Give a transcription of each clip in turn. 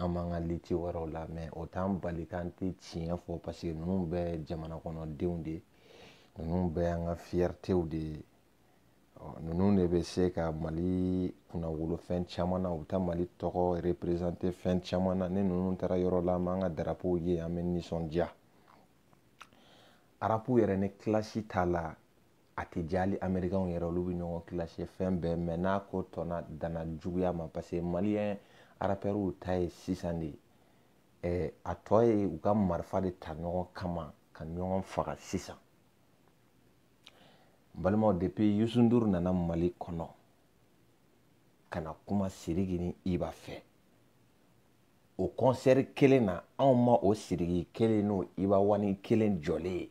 an b'an ka liti wɛrɛw la mɛ o t'an bali k'an tɛ tiɲɛ fɔ paseke ninnu bɛɛ jamana kɔnɔdenw de ninnu bɛɛ an ka fiyɛritew de ye ninnu de bɛ se ka mali kunnawolo fɛn caman na u bɛ taa mali tɔgɔ reperezante fɛn caman na ni ninnu taara yɔrɔ la an b'an ka darapow ye an bɛ nisɔndiya arapu yɛrɛ ni kilasi t'a la a tɛ diya hali amerikɛnw yɛrɛ olu bɛ ɲɔgɔn kilasi fɛn bɛɛ mɛ n'a ko tɔnna danna juguya ma parce que maliyɛn arapɛriw ta ye sisan de ye a tɔ ye u ka marifa de ta ɲɔgɔn kama ka ɲɔgɔn faga sisan n balimaw depuis yusu nduru nana mali kɔnɔ ka na kuma siriki ni iba fɛ o kɔnsɛri kelen na anw ma o siriki kelen n'o iba wani kelen jɔlen ye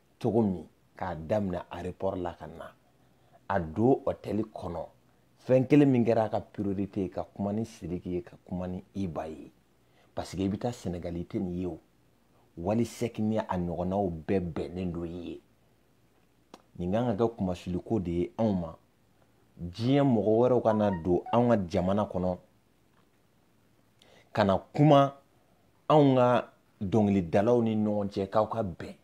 cogo min k'a daminɛ aéroport la ka na a don hôtel kɔnɔ fɛn kelen min kɛra a ka priorité ye ka kuma ni Sidiki ye ka kuma ni Iba ye parce que i bɛ taa Sénégal i tɛ nin ye o Wali Sɛk ni a ɲɔgɔnnaw bɛɛ bɛnnen don i ye nin kan ka kɛ kunmasuliko de ye anw ma diɲɛ mɔgɔ wɛrɛw ka na don anw ka jamana kɔnɔ ka na kuma anw ka dɔnkilidalaw ni ɲɔgɔn cɛ k'aw ka bɛn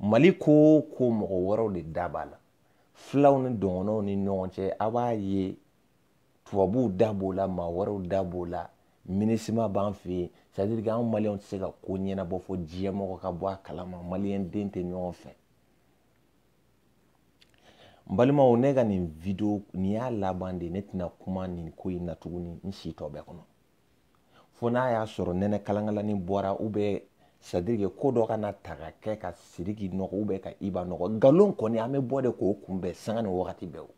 mali ko o ko mɔgɔ wɛrɛw de da b'a la filaw ni dɔgɔnɔw ni ɲɔgɔn cɛ a b'a ye tubabuw da b'o la maa wɛrɛw da b'o la minisima b'an fɛ yen sadiri ke anw maliyɛnw tɛ se ka ko ɲɛnabɔ fo diɲɛmɔgɔ ka bɔ a kalama maliyɛn den tɛ ɲɔgɔn fɛ n balimaw ne ka nin video nin y'a laban de ne tɛna kuma nin ko in na tuguni n si tɔ bɛɛ kɔnɔ fo n'a y'a sɔrɔ nɛnɛ kalankalani bɔra u bɛ sadirike ko dɔ kana taa ka kɛ ka siriki nɔgɔ u bɛ ka iba nɔgɔ nkalon kɔni an bɛ bɔ de k'o kunbɛn sanga ni wagati bɛɛ o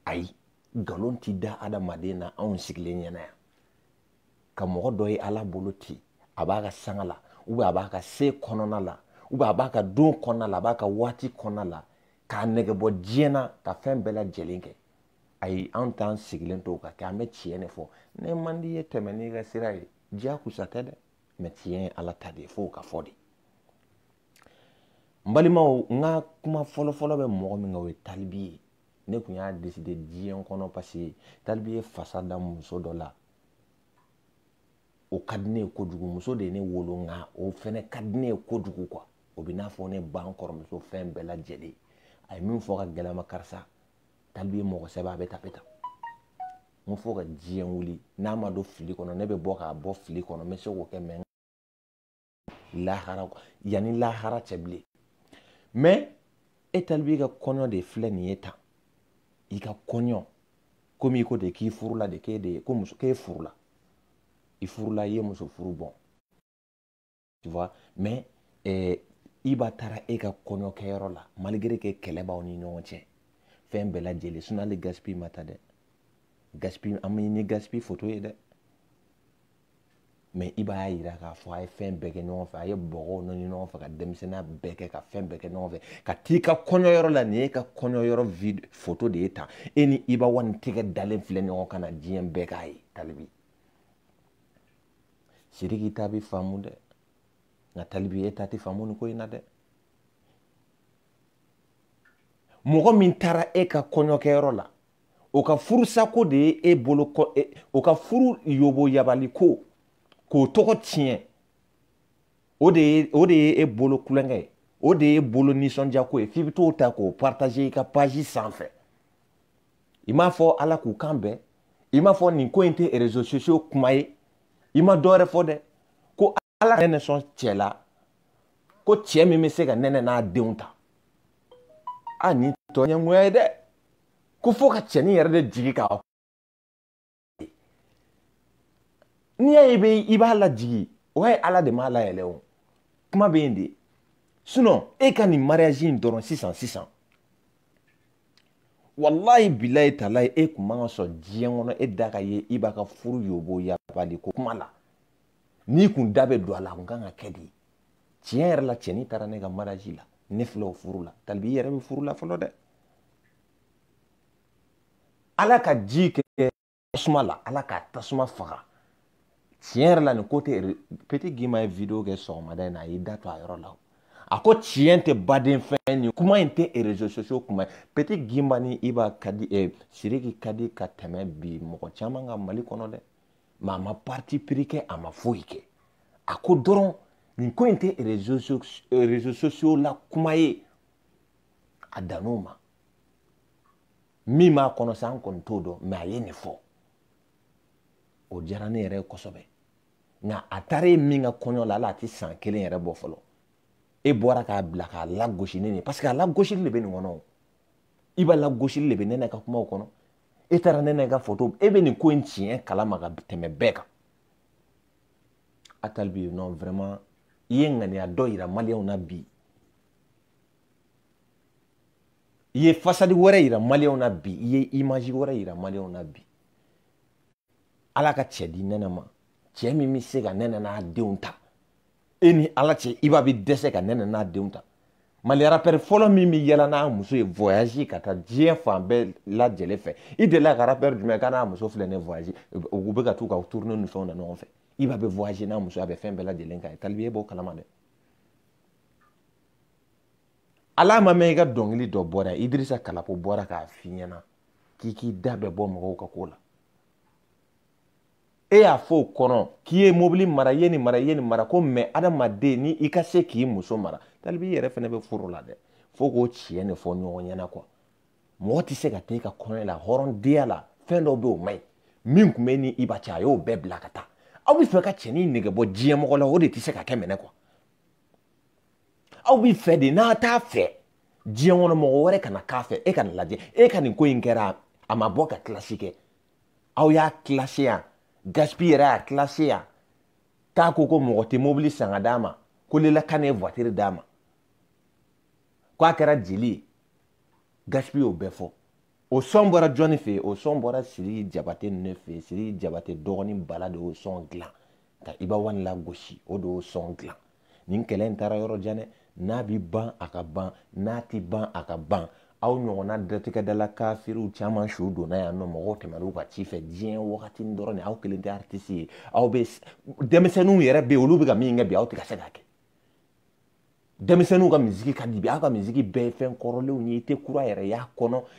ayi nkalon ti da adamaden na anw sigilen ɲɛna yan ka mɔgɔ dɔ ye ala bolo ten a b'a ka sanga la ubiyɛn a b'a ka se kɔnɔna la ubiyɛn a b'a ka don kɔnɔna la a b'a ka waati kɔnɔna la k'a negebɔ diɲɛ na ka fɛn bɛɛ lajɛlen kɛ ayi an t'an sigilen to ka kɛ an bɛ tiɲɛ de fɔ ne man d'i ye tɛmɛ n'i ka sira ye diyagoya tɛ dɛ mɛ tiɲɛ ye ala ta de ye f'o ka fɔ de n balimaw n ka kuma fɔlɔfɔlɔ bɛ mɔgɔ min kan o ye talibi ye ne tun y'a deside diɲɛ kɔnɔ paseke talibi ye fasa da muso dɔ la o ka di ne ye kojugu muso de ye ne wolo nka o fɛnɛ ka di ne ye kojugu kuwa o bɛ n'a fɔ ne ba n kɔrɔmuso fɛn bɛɛ lajɛlen a ye min fɔ ka gɛlɛma karisa talibi ye mɔgɔ sɛbɛ a bɛ tape ta n ko fo ka diɲɛ wuli n'a ma don fili kɔnɔ ne bɛ bɔ k'a bɔ fili kɔnɔ n bɛ se k'o kɛ mɛ lahara yan ni lahara cɛ bilen mɛ e talibi i ka kɔɲɔ de filɛ nin ye tan i ka kɔɲɔ komi i ko de k'i furula de k'e de ye ko muso k'e furula i furula i ye muso furu bon tu vois mais eh, iba taara e ka kɔɲɔkɛyɔrɔ la malgré que kɛlɛ b'aw ni ɲɔgɔn cɛ fɛn bɛɛ lajɛlen sinɔn hali gaspi ma taa dɛ gaspi an m'i ni gaspi foto ye dɛ mɛ iba y'a yira k'a fɔ a ye fɛn bɛɛ kɛ ɲɔgɔn fɛ a ye bɔgɔw nɔni ɲɔgɔn fɛ ka denmisɛnninya bɛɛ kɛ ka fɛn bɛɛ kɛ ɲɔgɔn fɛ ka t'i ka kɔɲɔyɔrɔ la nin y'e ka kɔɲɔyɔrɔ vid foto de ye tan e ni iba wani tɛgɛ dalen filɛ ɲɔgɔn kan na diɲɛ bɛɛ k'a ye talibi sidiki ta bi faamu dɛ nka talibi e ta tɛ faamu nin ko in na dɛ mɔgɔ min taara e ka kɔɲɔkɛyɔrɔ la o ka furusako de ye e bolo kɔ e, o ka furu yoboyabali ko k'o tɔgɔ tiɲɛ o de ye o de ye e bolo kulonkɛ ye o de y'e bolo nisɔndiya ko ye f'i bɛ t'o ta k'o partager i ka page sanfɛ i m'a fɔ ala k'u kan bɛn i m'a fɔ nin ko in tɛ réseaux sociaux kuma ye i ma dɔ wɛrɛ fɔ dɛ ala ka nɛnɛ sɔn cɛ la ko cɛ min bɛ se ka nɛnɛ n'a denw ta a nin tɛ ɲɛngoya ye dɛ ko fo ka cɛnin yɛrɛ de jigi ka n'i y'a ye e bɛ iba lajigi o y'a ye ala de m'a layɛlɛ o kuma bɛ yen de sinɔn e ka nin mariyazi in dɔrɔn sisan sisan walayi bilayi talayi e kun man ka sɔn diɲɛ kɔnɔ e da ka ye iba ka furu yoboyabali ko kuma la n'i kun da bɛ don a la a kun kan ka kɛ de tiɲɛ yɛrɛ la cɛnin taara ne ka maraji la ne filɛ o furu la talibi i yɛrɛ bɛ furu la fɔlɔ dɛ ala ka ji kɛ tasuma la ala ka tasuma faga tiɲɛ yɛrɛ la nin ko tɛ peti gimba ye video kɛ sɔgɔmada in na a y'i da to a yɔrɔ la o a ko tiɲɛ tɛ baden fɛn nin kuma in tɛ réseaux sociaux kuma ye peti gimba ni iba ka di eh, sidiki ka di ka tɛmɛ bi mɔgɔ caman ka mali kɔnɔ dɛ mɛ a ma parti pris kɛ a ma foyi kɛ a ko dɔrɔn nin ko in tɛ réseaux sociaux la kuma ye a dan'o ma min b'a kɔnɔ sa an kɔni t'o dɔn mɛ a ye nin fɔ o diyara ne yɛrɛ ye kosɛbɛ nka a taara e min ka kɔɲɔ la ala a tɛ san kelen yɛrɛ bɔ fɔlɔ e bɔra k'a bila k'a lagosi ne nin parce que a lagosili de bɛ nin kɔnɔ iba lagosili de bɛ nɛnɛ ka kumaw kɔnɔ e taara nɛnɛ ka foto e bɛ nin ko in tiɲɛ kalama ka tɛmɛ bɛɛ kan a talibi non vraiment i ye ŋaniya dɔ yira maliyɛnw na bi i ye fasadi wɛrɛ yira maliyɛnw na bi i ye image wɛrɛ yira maliyɛnw na bi ala ka cɛ di nɛnɛ ma cɛ min bɛ se ka nɛnɛ n'a denw ta e ni ala cɛ iba bɛ dɛsɛ ka nɛnɛ n'a denw ta mali rapɛri fɔlɔ min bɛ yaala n'a muso ye voyage ka taa diɲɛ fan bɛɛ lajɛlen fɛ i delila ka rapɛri jumɛn k'a n'a muso filɛ ne voyage u bɛ ka t'u ka tourne ni fɛnw na ɲɔgɔn fɛ iba bɛ voyage n'a muso a bɛ fɛn bɛɛ lajɛlen kɛ a ye talibi e b'o kalama dɛ ala ma mɛn i ka dɔnkili dɔ bɔra idirisa kalapo bɔra k'a f'i ɲɛna k'i k'i da bɛɛ bɔ mɔgɔw ka ko la e y'a fɔ o kɔnɔ k'i ye mobili mara i ye nin mara i ye nin mara ko mais adamaden ni i ka se k'i muso mara talibi i yɛrɛ fɛnɛ bɛ furu la dɛ fo k'o tiɲɛ de fɔ ɲɔgɔn ɲɛna kuwa mɔgɔ tɛ se ka taa i ka kɔɲɔ la hɔrɔndenya la fɛn dɔ bɛ o man ɲi min tun bɛ ni iba cɛ a y'o bɛɛ bila ka taa aw b'a fɛ ka cɛnin nege bɔ diɲɛ mɔgɔ la o de tɛ se ka kɛ minɛ kuwa aw b'a fɛ de n'aw t'a fɛ diɲɛ kɔnɔ mɔgɔ wɛrɛ kana k'a fɛ e ka nin lajɛ e ka nin ko in kɛra a ma bɔ ka kilasi kɛ aw y'a kilase yan gaspi yɛrɛ y'a kilase yan k'a ko ko mɔgɔ tɛ mobili san ka d'a ma ko lelakan ye voitiri d'a ma ko a kɛra jeli ye gaspi y'o bɛɛ fɔ o sɔn bɔra jɔni fɛ o sɔn bɔra siriki jabate de fɛ siriki jabate dɔgɔnin bala de y'o sɔn dilan ka iba wani lagosi o de y'o sɔn dilan nin kɛlɛ in taara yɔrɔ jan dɛ n'a bi ban a ka ban n'a ti ban a ka ban aw ɲɔgɔnna datigɛdala kafiriw caman su donna yan nɔ mɔgɔw tɛmɛn'u ka ci fɛ diɲɛ wagati dɔrɔn de aw kelen tɛ aritisi ye aw bɛ denmisɛnninw yɛrɛ bɛ yen olu bɛ ka min kɛ bi aw tɛ ka se k'a kɛ denmisɛnninw ka misiki ka di bi aw ka misiki bɛɛ ye fɛn kɔrɔlenw ye i tɛ kura yɛrɛ y'a kɔnɔ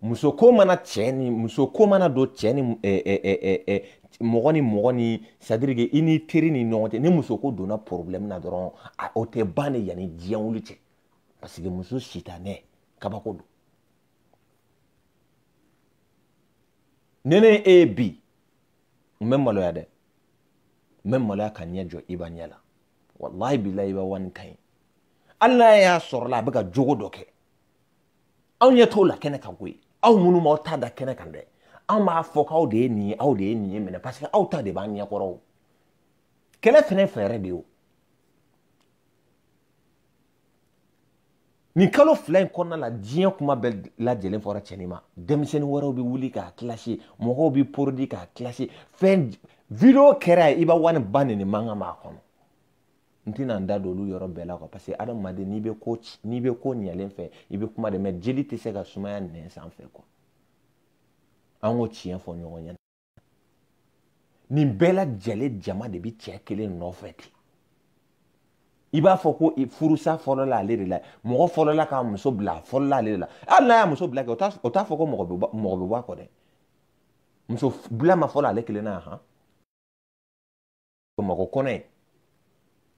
muso ko mana cɛ ni muso ko mana don cɛ ni eh, eh, eh, eh, eh, mɔgɔ ni mɔgɔ ni c'est-à-dire que i ni teri ni ɲɔgɔn cɛ ni muso ko donna problème na dɔrɔn a o tɛ ban de yanni diɲɛ wuli cɛ parce que muso sitanɛ kabako don ne ne e ye bi n bɛ maloya dɛ n bɛ maloya ka ɲɛ jɔ iba ɲɛ la walahi bilahi iba wani ka ɲi hali n'a y'a sɔrɔ la a bɛ ka jogo dɔ kɛ an ɲɛ t'o la kɛnɛ kan koyi aw minnu m'aw ta da kɛnɛ kan dɛ an b'a fɔ k'aw de ye nin ye aw de ye nin ye minɛ parce que aw ta de b'an ɲɛkɔrɔ o kɛlɛ fɛnɛ fɛɛrɛ de ye o nin kalo fila in kɔnɔna la diɲɛ kuma bɛɛ lajɛlen fɔra cɛnin ma denmisɛnnin wɛrɛw bɛ wuli k'a kilasi mɔgɔw bɛ porodi k'a kilasi fɛn video kɛra ye iba wani ba nenini mankan b'a kɔnɔ n tɛna n da don olu yɔrɔ bɛɛ la kuwa parce que adamaden n'i bɛ ko n'i bɛ ko ɲɛlen fɛ i bɛ kuma de mɛ joli tɛ se ka sumaya nɛn sanfɛ kuwa an k'o tiɲɛ fɔ ɲɔgɔn ɲɛna nin bɛɛ lajɛlen jama de bɛ cɛ kelen nɔfɛ ten i b'a fɔ ko furusa fɔlɔla ale de la mɔgɔ fɔlɔla k'a muso bila fɔlɔla ale de la hali n'a y'a muso bila kɛ o t'a fɔ ko mɔgɔ bɛ mɔgɔ bɛ bɔ a kɔ dɛ muso bila ma fɔlɔ ale kelen na han bamakɔ kɔnɔ yan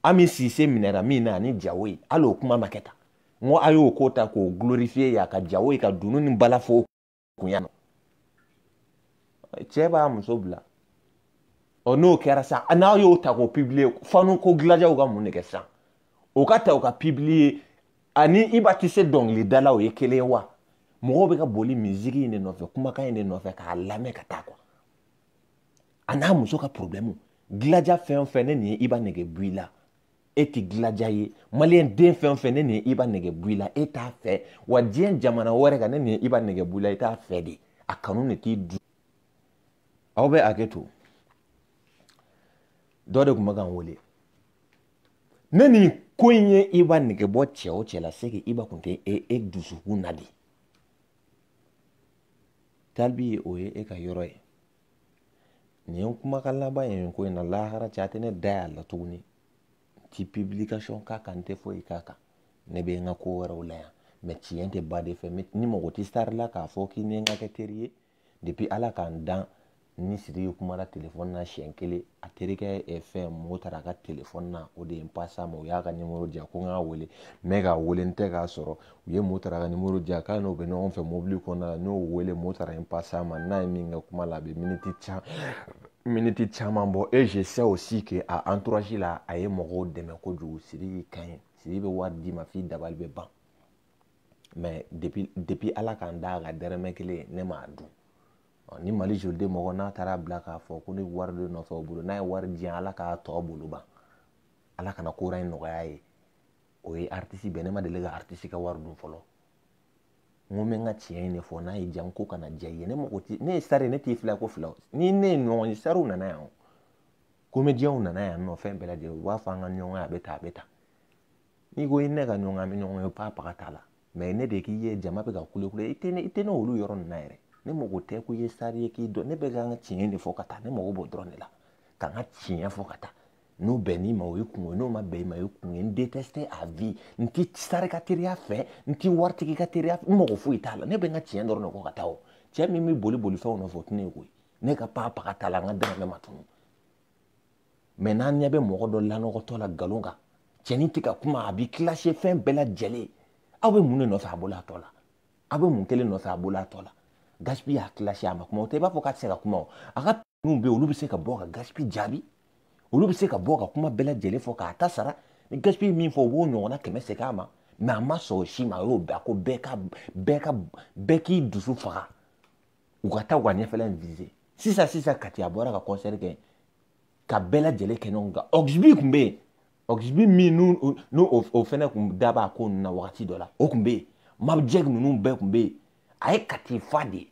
ami sise minɛra min na ani jawoye hali o kuma ma kɛ tan n ko a y'o ko ta k'o glorifiye yan ka jawoye ka dunun ni bala fɔ a kun yan nɔ cɛ b'a muso bila ɔ n'o kɛra sa n'a y'o ta k'o pibiliye fanu ko gilajaw ka mun de kɛ sisan o ka ta o ka pibiliye ani iba tɛ se dɔnkili da la o ye kelen ye wa mɔgɔw bɛ ka boli miziki in de nɔfɛ kumakan in de nɔfɛ k'a lamɛn ka taa quoi a n'a muso ka problɛmu gilaja fɛn o fɛn ni nin ye iba nege bɔ i la e tɛ gilaja ye maliyɛn den fɛn o fɛn ni nin ye iba nege bɔ i la e t'a fɛ wa diɲɛ jamana wɛrɛ kan ni nin ye iba nege bɔ i la i t'a fɛ de a kanu de t'i du aw bɛ hakɛ to dɔ de tun bɛ ka n wele ni nin ko in ye iba nege bɔ cɛ o cɛ la c'est que iba tun tɛ e e dusukun na de talibi yɔrɔ ye e ka yɔrɔ ye nin kumakan laban ye ko in na lahara cɛ a tɛ ne da y'a la tuguni n ti publication k'a kan n tɛ foyi k'a kan ne bɛ n ka ko wɛrɛw la yan mɛ tiɲɛ tɛ ba de fɛ ne mago tɛ sari la k'a fɔ k'i ni n ka kɛ teri ye depuis ala ka n dan n ni siriki kumara telefɔni na siɲɛ kelen a terikɛ eh, fɛn mɔkɔtari ka telefɔni na o de ye n pase a ma o y'a ka nimoro di yan ko n k'a wele n bɛ k'a wele n tɛ k'a sɔrɔ u ye mɔkɔtari ka nimoro di yan k'a n'o bɛ ɲɔgɔn fɛ mobili kɔnɔna la n y'o wele mɔkɔtari n pase a ma n n'a ye min kɛ kuma la a bɛ miniti can miniti caman bɔ e je sais aussi que a entourage la a ye mɔgɔw dɛmɛ kojugu siriki ka ɲi siriki bɛ wari d'i ma f'i dabali bɛ ban mɛ depuis depuis ala ka n da a ka dɛrɛmɛ kelen ne m'a dun ni mali joliden mɔgɔ n'a taara bila k'a fɔ ko ne wari de nɔfɛ o bolo n'a ye wari di yan ala k'a tɔ bolo ban ala kana kora in nɔgɔya a ye o ye aritisi bɛɛ ne ma deli ka aritisi ka wari dun fɔlɔ n ko n bɛ n ka tiɲɛ in de fɔ n'a ye jan ko kana diya i ye ne mago ti ne ye sari ne t'i filɛ ko fila ni ne ye ɲɔgɔn ye sariw nana yan o komediyɛnw nana yan nɔ fɛn bɛɛ lajɛlen u b'a fɔ an ka ɲɔgɔn ye a bɛ ta a bɛ ta n'i ko i ni ne ka ɲɔgɔn an bɛ ɲɔgɔn ye pa paga t'a la mɛ ne de k'i ye jama bɛ ka kulekule i tɛ ne i tɛ ne y'o yɔrɔnin na yɛrɛ ne mago tɛ ko i ye sari ye k'i dɔn ne bɛ ka n ka tiɲɛ de fɔ ka taa ne mago b'o dɔrɔn de la ka n ka tiɲɛ fɔ ka taa n'o bɛnn'i ma o y'i kunko ye n'o ma bɛn i ma o y'i kunko ye n déteste à vie n ti sari ka teriya fɛ n ti waritigi ka teriya n mago foyi t'a la ne bɛ n ka tiɲɛ dɔrɔn de fɔ ka taa o cɛ min bɛ boli boli fɛnw nɔfɛ o tɛ ne ye koyi ne ka papa ka t'a la n ka dɛrɛmɛ ma tunun mɛ n'an ɲɛ bɛ mɔgɔ dɔ lanɔgɔtɔ la nkalon kan cɛnin tɛ ka kuma a b'i kilase fɛn bɛɛ lajɛlen aw bɛ mun de nɔfɛ a bolo a tɔ la aw bɛ mun kelen nɔfɛ a bolo a tɔ la gasipi y'a kilase a ma kuma o tɛ i b'a fɔ k'a tɛ se ka kuma o a ka ninnu bɛ yen olu bɛ se ka bɔ ka gasipi jaabi olu bɛ se ka bɔ ka kuma bɛɛ lajɛlen fɔ k'a ta sara ni gasipi min fɔ u b'o ɲɔgɔnna kɛmɛ segin a ma mɛ a ma sɔn o si ma a y'o bɛɛ ko bɛɛ ka bɛɛ ka bɛɛ k'i dusu faga u ka taa u ka ɲɛfɛla in vise sisan sisan kati a bɔra ka concert kɛ ka bɛɛ lajɛlen kɛ ɲɔgɔn kan oxby tun bɛ yen oxby min n'u o fɛnɛ tun da b'a ko ninnu na wagati dɔ la o tun bɛ yen mabjɛk ninnu bɛɛ tun bɛ yen a ye kati fa dɛ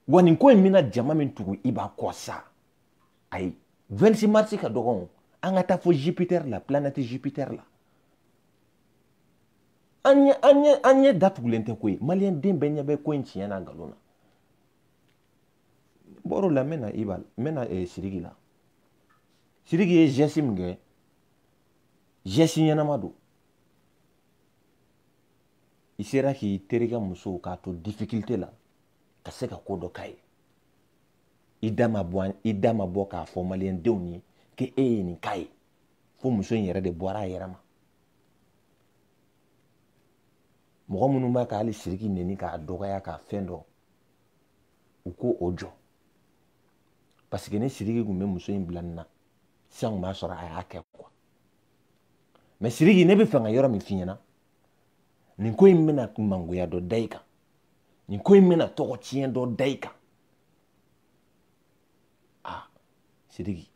wa nin ko in bɛna jama min tugu iba kɔ sa ayi 26 mars ka dɔgɔn an ka taa fo jupiter la planète jupiter la an ɲɛ an ɲɛ an ɲɛ datugulen tɛ koyi maliyɛn den bɛɛ ɲɛ bɛ ko in tiɲɛ na nkalon na bɔr'o la n bɛna iba n bɛna eh, siriki la siriki ye geste min kɛ geste ɲɛnama don i sera k'i terikɛ muso k'a to difficulté la ka se ka ko dɔ k'a ye i da ma bɔ an- i da ma bɔ k'a fɔ maliyɛndenw ye k'e ye nin k'a ye fo muso in yɛrɛ de bɔra a yɛrɛ ma mɔgɔ minnu b'a ka hali siriki neni k'a dɔgɔya k'a fɛn dɔ u k'o jɔ paseke ni siriki tun bɛ muso in bila nin na sisan tun b'a sɔrɔ a y'a kɛ kuwa mɛ siriki ne bɛ fɛ ka yɔrɔ min f'i ɲɛna nin ko in bɛna mangoya dɔ da i kan nin ko in bɛna tɔgɔtiɲɛ dɔ da i kan a siriki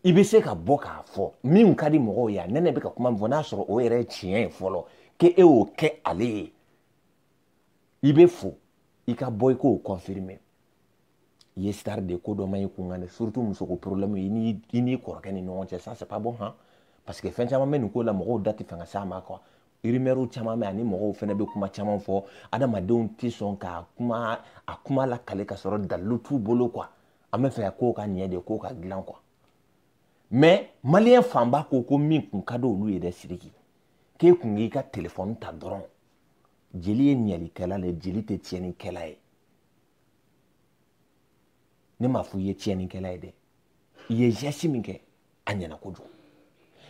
i bɛ se ka bɔ k'a fɔ min ka di mɔgɔw ye a nɛnɛ bɛ ka kuma min fɔ n'a sɔrɔ o yɛrɛ ye tiɲɛ ye fɔlɔ k'e y'o kɛ ale ye i bɛ fo i ka bɔ i k'o confirmer i ye star de ko dɔ ma i kun kan dɛ surtout musoko problème i ni i n'i kɔrɔkɛ ni ɲɔgɔn cɛ ça c'est pas bon han parce que fɛn caman bɛ nin ko la mɔgɔw da tɛ fɛ ka s'a ma quoi rumeur caman bɛ ani mɔgɔw fana bɛ kuma caman fɔ adamadenw tɛ sɔn ka kuma a kuma lakale ka sɔrɔ dalilu t'u bolo quoi an bɛ fɛ ka kow ka ɲɛ de kow ka dilan kuwa mɛ maliyɛn fanba ko ko min kun ka di olu ye dɛ siriki k'e kun k'i ka telefɔni ta dɔrɔn jeli ye ɲɛlikɛla ye jeli tɛ tiɲɛnikɛla ye ne m'a fɔ i ye tiɲɛnikɛla ye dɛ i ye zɛsi min kɛ a ɲɛna kojugu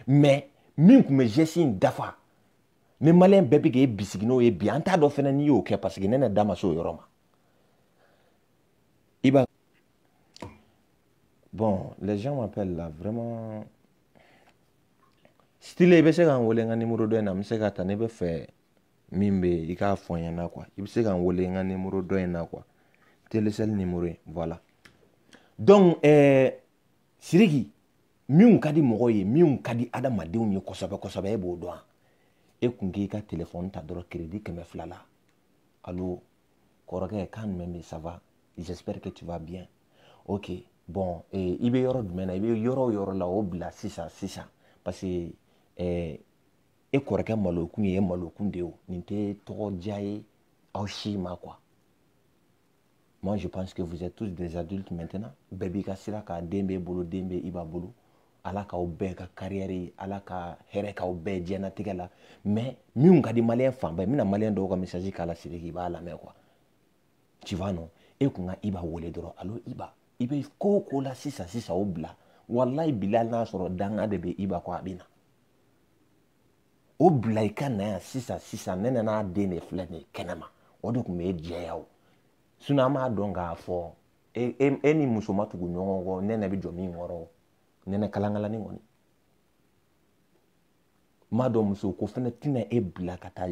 mɛ min kun bɛ zɛsi in dafa ni maliyɛn bɛɛ bɛ k'e bisigi n'o ye bi an t'a dɔn fɛnɛ n'i y'o kɛ paseke ne n da ma se o yɔrɔ ma iba bon les gens m'appellent là vraiment style i bɛ se ka n wele n ka nimoro dɔ in na n bɛ se k'a ta ne bɛ fɛ min bɛ yen i k'a fɔ n ɲɛna quoi i bɛ se ka n wele n ka nimoro dɔ in na quoi telecel nimoro in voilà donc ɛɛ eh, siriki minnu ka di mɔgɔw ye minnu ka di adamadenw ye kosɛbɛ kosɛbɛ e b'o dɔn wa e kun k'i ka telefɔni ta dɔrɔn kiredi kɛmɛ fila la alo kɔrɔkɛ kan jumɛn bɛ ça va j'espère que tu vas bien ok bon eh, i bɛ yɔrɔ jumɛn na i bɛ yɔrɔ o yɔrɔ la o bila sisan sisan parce que eh, e kɔrɔkɛ malokun ye e malokun de ye o nin tɛ tɔgɔ diya ye aw si ma quoi moi je pense que vous êtes tous des adultes maintenant bɛɛ b'i ka sira kan den b'e bolo den bɛ iba bolo ala k'aw bɛɛ ka kariyɛri ala ka hɛrɛ k'aw bɛɛ diɲɛnatigɛ la mais minnu ka di maliyɛn fanba ye n bɛna maliyɛn dɔw ka message k'a la sidiki i b'a lamɛn quoi tu vas non e kun ka iba wele dɔrɔn alo iba i bɛ ko o ko la sisan sisan o bila walayi bilahi n'a sɔrɔ danga de bɛ iba kɔ a bɛ na o bila i ka na yan sisan sisan ne nana den de filɛ nin ye kɛnɛma o de tun bɛ e jɛya o sinɔn an b'a dɔn k'a fɔ e, e, e ni muso ma tugu ɲɔgɔn kɔ nɛnɛ bɛ jɔ min kɔrɔ nɛnɛ kalankalani kɔni m'a dɔn muso ko fɛnɛ tɛna e bila ka taa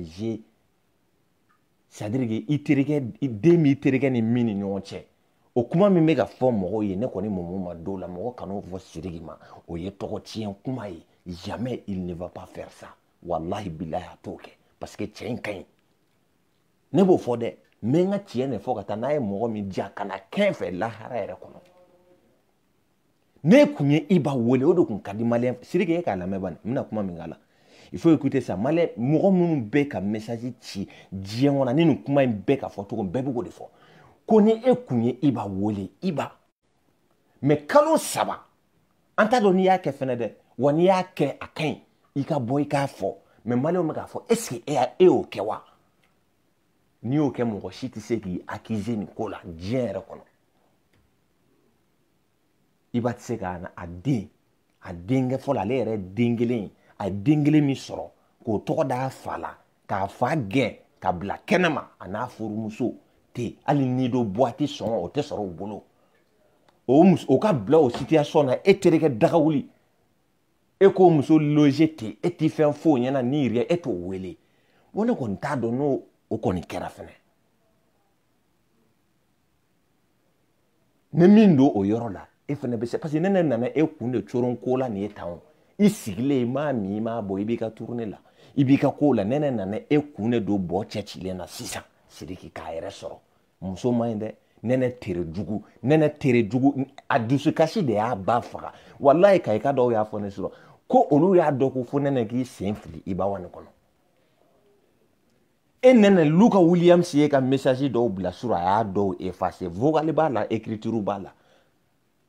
c'est-à-dire que i terikɛ den b'i terikɛ ni min ni ɲɔgɔn cɛ o kuma min bɛ ka fɔ mɔgɔw ye ne kɔni même ma d'o la mɔgɔ kan'o fɔ sidiki ma o ye tɔgɔ tiɲɛ kuma ye jamais il ne va pas faire ça walahi bilahi a t'o kɛ parce que cɛ in ka ɲi ne b'o fɔ dɛ n bɛ n ka tiɲɛ de fɔ ka taa n'a ye mɔgɔ min diya kana kɛ n fɛ lahara yɛrɛ kɔnɔ n'e kun ye iba wele o de kun ka di maliyɛn sidiki e k'a lamɛn bani n bɛna kuma min k'a la il faut écouter ça maliyɛn mɔgɔ minnu bɛ ka message ci diɲɛ kɔnɔ ni nin kuma in bɛ ka fɔ cogo min bɛɛ bɛ k'o de fɔ ko ni e kun ye iba wele iba mɛ kalo saba an t'a dɔn n'i y'a kɛ fɛnɛ dɛ wa n'i y'a kɛ a ka ɲi i ka bɔ i k'a fɔ mais maliyɛnw bɛ k'a fɔ est ce que e y'a e y'o kɛ wa n'i y'o kɛ mɔgɔ si tɛ se k'i accuser nin ko la diɲɛ yɛrɛ kɔnɔ iba tɛ se ka a den a denkɛ fɔlɔ ale yɛrɛ den kelen a ye den kelen min sɔrɔ k'o tɔgɔ d'a fa la k'a fa gɛn ka bila kɛnɛma a n'a furumuso ten hali nido buwati sɔngɔ o tɛ sɔrɔ u bolo o muso o ka bila o situation na e terikɛ de ka wuli e k'o muso loge ten e tɛ fɛn f'o ɲɛna ni rien e t'o wele n ko ne kɔni t'a dɔn n'o o kɔni kɛra fɛnɛ ni min don o yɔrɔ la e fana bɛ se parce que ne ne nana e kun de coron ko la nin ye tan o i sigilen i m'a min i m'a bɔn i b'i ka tournée la i b'i ka kow la ne ne nana e kun de don bɔ cɛ cilen na sisan sidiki k'a yɛrɛ sɔrɔ muso man ɲi dɛ nɛnɛ tere jugu nɛnɛ tere jugu a dusukasi de y'a ba faga walayi ka i ka dɔw y'a fɔ ne sɔrɔ ko olu y'a dɔn ko fo nɛnɛ k'i sen fili iba one kɔnɔ e nɛnɛ luka williams ye ka message dɔw bila surɔ a y'a dɔw effacer vocal b'a la écriture b'a la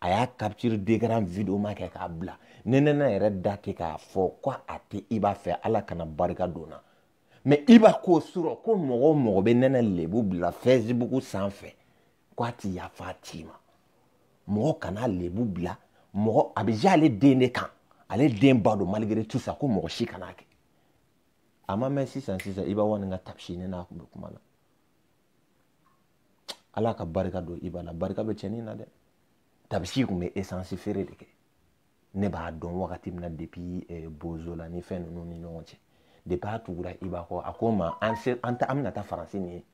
a y'a capture d'écran vidéo ma kɛ k'a bila nɛnɛ yɛrɛ da tɛ k'a fɔ ko a tɛ iba fɛ ala kana barika don na mais iba ko surɔ ko mɔgɔ o mɔgɔ bɛ nɛnɛ lebu bila facebook sanfɛ ko a tɛ yafa a tigi ma mɔgɔ kan'a lebu bila mɔgɔ a bɛ da ale den de kan ale den ba don malgré tout ça ko mɔgɔ si kan'a kɛ a ma mɛn sisan sisan iba one ka tabisi ne n'a kun bɛ kuma la ala ka barika don iba la barika bɛ cɛnin na dɛ tabisi kun bɛ esansi feere de kɛ ne b'a dɔn wagati min na depuis eh, bozola ni fɛn ninnu ni ɲɔgɔn cɛ depuis a tugura iba kɔ a ko n ma an se an ta an bɛna taa faransi nin ye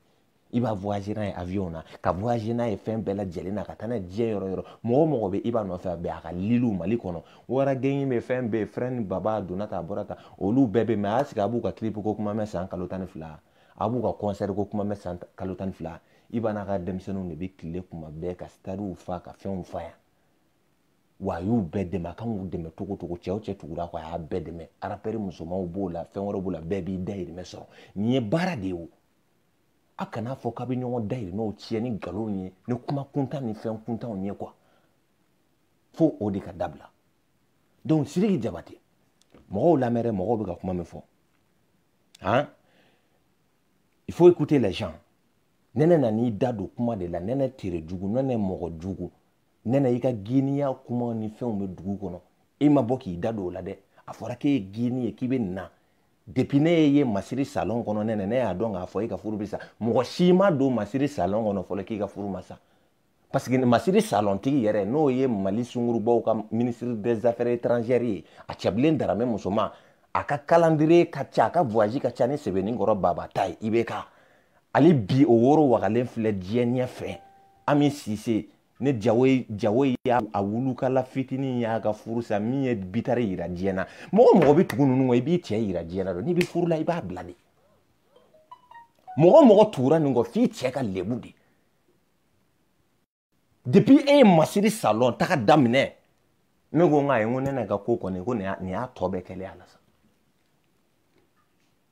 iba voyager n'a ye avion na ka voyager n'a ye fɛn bɛɛ lajɛlen na ka taa n'a ye diɲɛ yɔrɔ yɔrɔ mɔgɔ mɔgɔ bɛ iba nɔfɛ a bɛ a ka liliw mali kɔnɔ wara gengi bɛ fɛn bɛɛ frɛn ni baba a donna ta a bɔra ta olu bɛɛ bɛ mɛ a y'a sigi a b'u ka clip ko kuma mɛn san kalo tan ni fila a b'u ka concert ko kuma mɛn san kalo tan ni fila iba n'a ka denmisɛnninw de bɛ tile kuma bɛɛ ka stadew fa ka fɛnw fa yan wa a y'u bɛɛ dɛmɛ a kan k'u dɛmɛ cogo cogo cɛ o cɛ tugur'a kɔ a y'a bɛɛ dɛmɛ arapɛri musomanw b'o la fɛn wɛrɛ b'o la bɛɛ b'i dayirimɛ sɔrɔ nin ye baara de ye o a kan'a fɔ k'a bɛ ɲɔgɔn dayirimɛ nɔ tiɲɛ ni nkalon ye ni kuma kuntan ni fɛn kuntanw ye quoi fo o de ka dabila donc siriki jabate mɔgɔw lamɛn dɛ mɔgɔw bɛ ka kuma min fɔ han il faut écouter les gens nɛnɛ nan'i da don kuma de la nɛnɛ tere jugu nɛnɛ mɔgɔ jugu nɛnɛ i ka giniya kuma ni fɛnw bɛ dugu kɔnɔ i ma bɔ k'i da don o la dɛ a fɔra k'e ye gini ye k'i bɛ na depuis ne ye masiri salon kɔnɔ ne ne y'a dɔn k'a fɔ e ka furu bɛ sa mɔgɔ si ma don masiri salon kɔnɔ fɔlɔ k'i ka furu ma sa parce que masiri salon tigi yɛrɛ n'o ye mali sungurubaw ka ministre des affaires étrangères ye a cɛbilen daramɛ musoman a ka calendrier ka ca a ka voyage ka ca ni sebenikɔrɔ baba ta ye IBK hali bi o woro wagalen filɛ diɲɛ ɲɛfɛ ami sise ne jawo ye jawo ye y'a a wulukala fitinin y'a ka furu sa min ye bitare yira diɲɛ na mɔgɔ mɔgɔ bɛ tugu ninnu kɔ i b'i cɛ yira diɲɛ na donc n'i bɛ furu la i b'a bila de mɔgɔ mɔgɔ tugura nin kɔ f'i cɛ ka lebu de depuis e ye masiri salon taga daminɛ ne ko n ka ye n ko nɛnɛ ka ko kɔni ko nin y'a tɔ bɛɛ kɛlen a la sa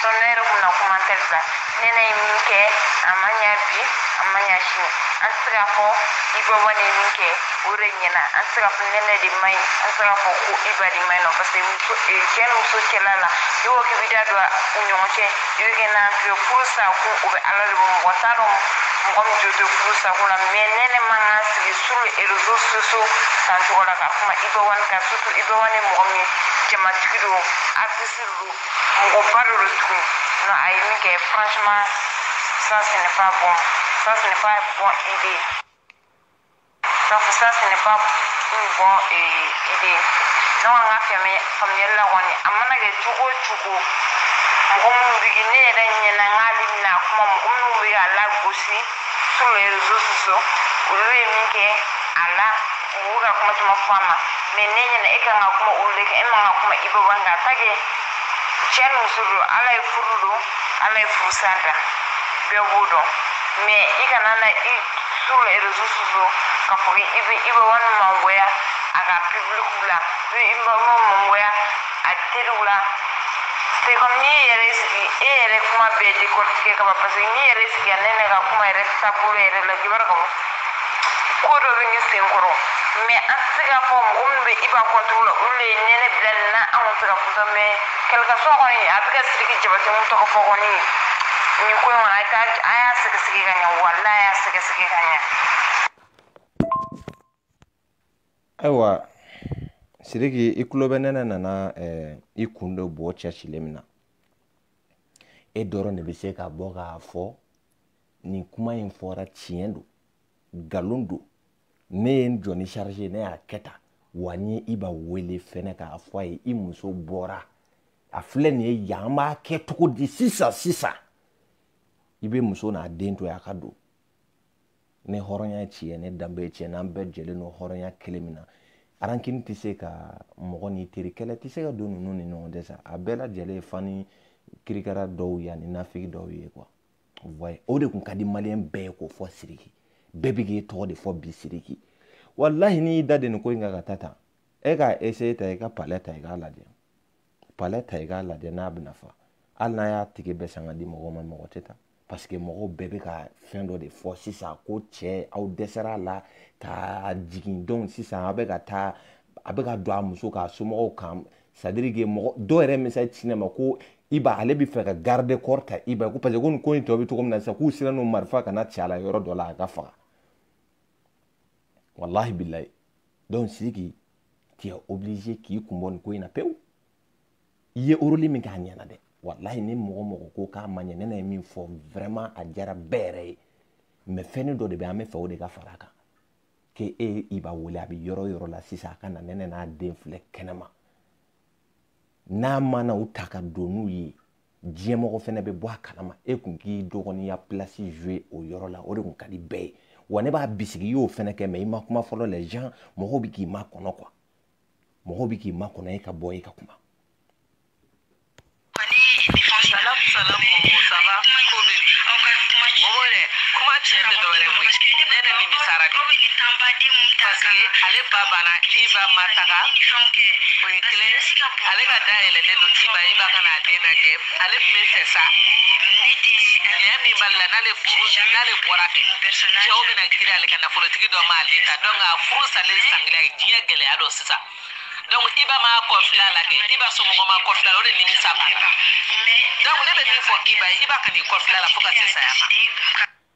Sinon ne yɛrɛ kun na kuma tɛ bila nɛnɛ ye min kɛ a ma ɲa bi a ma ɲa sini an tɛ se k'a fɔ iba one ye min kɛ o de ɲɛna an tɛ se k'a fɔ nɛnɛ de man ɲi an tɛ se k'a fɔ ko iba de man ɲi non parce que muso eh, cɛ ni muso cɛla la i ko k'i b'i da don u ɲɔgɔn cɛ i bɛ kɛ n'an fɛ furu sa ko o bɛ ala de bolo mɔgɔ t'a dɔn mɔgɔ min jo tɛ furu sa ko la mais nɛnɛ man kan sigi sur les réseaux sociaux san cogo la ka kuma iba one kan surtout iba one mɔgɔ min jamatigi don artiste don mɔgɔba dɔ don tugun non a ye min kɛ franchement ça ce n'est pas bon ça ce n'est pas bon idée ça ça ce n'est pas une bon euh, idée ne kɔni ka fɛmɛ faamuyali la kɔni a mana kɛ cogo o cogo mɔgɔ minnu bɛ ne yɛrɛ ɲɛna n k'ale bɛna kuma mɔgɔ minnu bɛ k'a lagosi sur les réseaux sociaux olu ye min kɛ a la mɔgɔw ka kuma caman fɔ a ma mais ne ɲɛna e kan ka kuma olu de kan e man ka kuma iba one kan tant que cɛ ni muso don ala ye furu don ala ye furusa da bɛɛ b'o dɔn mais i kana na i sur les réseaux sociaux k'a fɔ i bɛ iba one mangoya a ka publikiw la n'o iba one mangoya a teriw la c'est comme n'i yɛrɛ sigi e yɛrɛ kuma bɛɛ décortiquer ka ban parce que n'i yɛrɛ sigira ne ne ka kuma yɛrɛ taabolo yɛrɛ la i b'a dɔn k'a fɔ ko dɔ bɛ ne sen kɔrɔ mais an tɛ se k'a fɔ mɔgɔ minnu bɛ iba contre la olu ye nɛnɛ bila nin na an tɛ se k'a fɔ sa mais quel que soit kɔni a bɛ ka siriki jabate min tɔgɔ fɔ kɔni nin ko in kɔnɔ a ka a y'a sɛgɛsɛgɛ ka ɲɛ wala a y'a sɛgɛsɛgɛ ka ɲɛ ayiwa sidiki i tulo bɛ nɛnɛ nana eh, i kun de bɔ cɛsilen min na e dɔrɔn de bɛ se ka bɔ k'a fɔ nin kuma in fɔra tiɲɛ don nkalon don ne ye n jɔ ni charge ne y'a kɛ tan wa n ye iba wele fɛnɛ k'a fɔ a ye i muso bɔra a filɛ nin ye yan an b'a kɛ cogo di sisan sisan i bɛ muso n'a den to yen a ka don ne hɔrɔnya tiɲɛ ne danbe tiɲɛ n'an bɛɛ jɛlen don hɔrɔnya kelen min na rancune tɛ se ka mɔgɔ n'i teri kɛlɛ tɛ se ka don ninnu ni ɲɔgɔn cɛ sa a bɛɛ lajɛlen ye fani kirikara dɔw ye ani nafigi dɔw ye quoi wayi o de tun ka di maliyɛn bɛɛ ye k'o fɔ siriki bɛɛ bɛ k'i tɔgɔ de fɔ bi siriki walahi n'i y'i da de nin ko in kan ka taa tan e k'a essayer ta i ka palais ta i k'a lajɛ palais ta i k'a lajɛ n'a bɛna fa hali n'i ye ticket bɛɛ san ka di mɔgɔw ma mɔgɔ tɛ taa parce que mɔgɔw bɛɛ bɛ ka fɛn dɔ de fɔ sisan ko cɛ aw dɛsɛra a la ka jigin dɔn sisan a bɛ ka taa a bɛ ka don a muso ka somɔgɔw kan c'est-à-dire que mɔgɔ dɔw yɛrɛ message ci ne ma ko iba ale bɛ fɛ ka garde corps ta iba ko parce que ko nin ko in tɔ bɛ cogo min na sisan k'u siranna marifa kana ci a la yɔrɔ dɔ la a k'a faga walahi bilayi donc sidiki tu es obligé k'i kun bɔ nin ko in na pewu i ye rôle min kɛ a ɲɛna dɛ walahi ni mɔgɔ mɔgɔ ko k'a ma ɲɛ nɛnɛ ye min fɔ vraiment a diyara bɛɛ yɛrɛ ye mais fɛnni dɔ de bɛ an bɛ fɛ o de ka fara a kan que e iba wele a bɛ yɔrɔ o yɔrɔ la sisan a ka na nɛnɛ n'a den filɛ kɛnɛma n'a mana u ta ka don n'u ye diɲɛmɔgɔ fɛnɛ bɛ bɔ a kalama e kun k'i dɔgɔninya pilasi joue o yɔrɔ la o de kun ka di bɛɛ ye wa ne b'a bisigi i y'o fɛnɛ kɛ mɛ i ma kuma fɔlɔ les gens mɔgɔw bɛ k'i makɔnɔ quoi mɔgɔw bɛ k'i makɔnɔ e ka bɔ e ka kuma ale ba banna iba ma taga o ye kelen ale ka da yɛlɛlen don k'iba iba ka na a den lajɛ ale tun bɛ fɛ sa nɛn min b'ale la n'ale furu sara n'ale bɔra fɛ cɛw bɛna girin ale kan nafolotigi dɔ m'ale ta dɔnku a furu salen san fila ye diɲɛ gɛlɛya dɔn sisan dɔnku iba m'a kɔfilɛ a la kɛ iba somɔgɔ ma kɔfilɛ a la o de nimisa b'a la dɔnku ne bɛ min fɔ iba ye iba kan'i kɔfilɛ a la fo ka se saya ma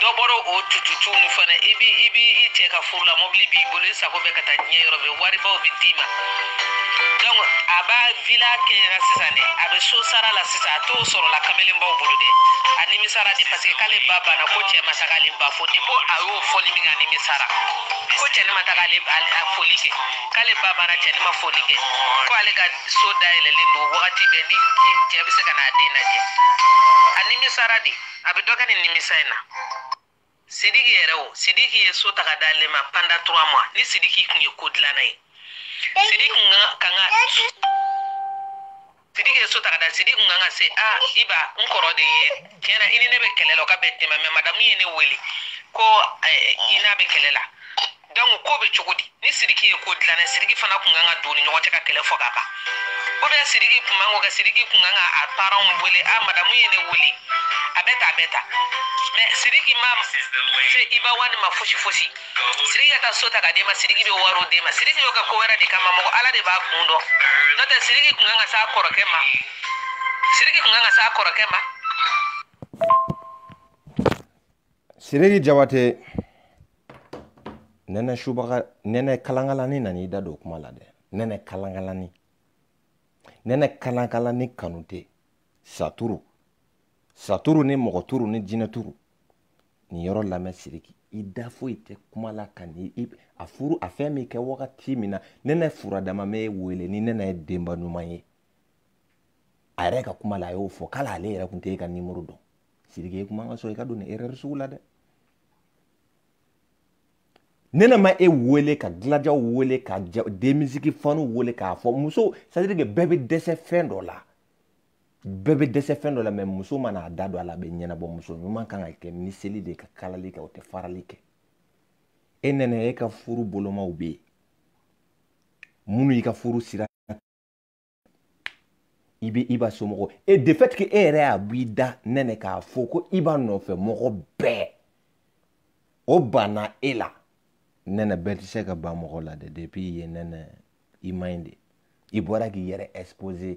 dɔ bɔra o tututu nu fana i bɛ i bɛ i cɛ ka furu la mɔbili b'i bolo i sago bɛ ka taa diɲɛ yɔrɔ bɛɛ waribaw bɛ d'i ma donc a b'a vila kɛɲɛna sisan dɛ a bɛ so sara la sisan a t'o sɔrɔ la kamelenbaw bolo dɛ a nimisara de parce que k'ale ba banna ko cɛ ma taga ale ba fo de ko a y'o fɔli min kɛ a nimisara ko cɛnin ma taga ale a foli kɛ k'ale ba banna cɛnin ma foli kɛ ko ale ka so dayɛlɛlen don wagati bɛɛ ni cɛ bɛ se ka n'a den lajɛ a nimisara de a bɛ dɔ kɛ nin nimisa in na sidiki yɛrɛ o sidiki ye so ta ka d'ale ma pendant trois mois ni sidiki kun ye ko dilanna ye sidiki kun kan ka sidiki ye so ta ka da sidiki kun kan ka se a iba n kɔrɔ de ye tiɲɛ na i ni ne bɛ kɛlɛ la o ka bɛn tɛmɛ mɛ madamu ye ne wele ko i n'a bɛ kɛlɛ la dɔnku ko bɛ cogo di ni siriki ye ko dilanna siriki fana kun kan ka don u ni ɲɔgɔn cɛ ka kɛlɛ fɔ ka ban o bɛɛ siriki kun m'a kɛ siriki kun kan ka a paranw wele a madamu ye ne wele a bɛ tan a bɛ tan mɛ siriki ma se iba one ma fosi fosi siriki ka taa so ta ka d'e ma siriki bɛ wariw d'e ma siriki b'a kɛ ko wɛrɛ de kama mɔgɔ ala de b'a kun dɔn n'o tɛ siriki kun kan ka s'a kɔrɔkɛ ma siriki kun kan ka s'a kɔrɔkɛ ma siriki jabate nɛnɛ subaga nɛnɛ kalankalani nan'i da don kuma la dɛ nɛnɛ kalankalani nɛnɛ kalankalani kanute saturu saturu ni mɔgɔ turu ni jinɛ turu nin yɔrɔ lamɛn siriki i da foyi tɛ kuma la ka ni i a furu a fɛn min kɛ wagati min na nɛnɛ furadama bɛ wele ni nɛnɛ ye denba ɲuman ye a yɛrɛ ka kuma la a y'o fɔ k'ale ale yɛrɛ tun tɛ e ka nimɔrɔ dɔn sidiki e kun man kan ka sɔn i ka don nin erreur sugu la dɛ nɛnɛ ma e wele ka gladia wele ka demisiki fanw wele k'a fɔ muso c'est à dire que bɛɛ bɛ dɛsɛ fɛn dɔ la bɛɛ bɛ dɛsɛ fɛn dɔ la mɛ muso mana a da don a la a bɛ ɲɛnabɔ muso ɲuman kan ka kɛ miseli de ka kalali kɛ o tɛ farali kɛ e nɛnɛ e ka furubolomaw bɛ yen minnu y'i ka furu sira i bɛ iba somɔgɔ e de fait que e yɛrɛ y'a bɔ i da nɛnɛ k'a fɔ ko iba nɔfɛ mɔgɔ bɛɛ o banna e la nɛnɛ bɛɛ tɛ se ka ban mɔgɔ la dɛ depuis i ye nɛnɛ i man ɲi de i bɔra k'i yɛrɛ exposer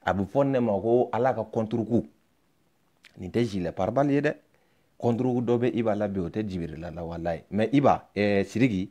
a bɛ fɔ ne ma ko ala ka contre coup nin tɛ gilet pare-balles ye dɛ contre coup dɔ bɛ iba la bi o tɛ jibirila la walayi mais iba eh, siriki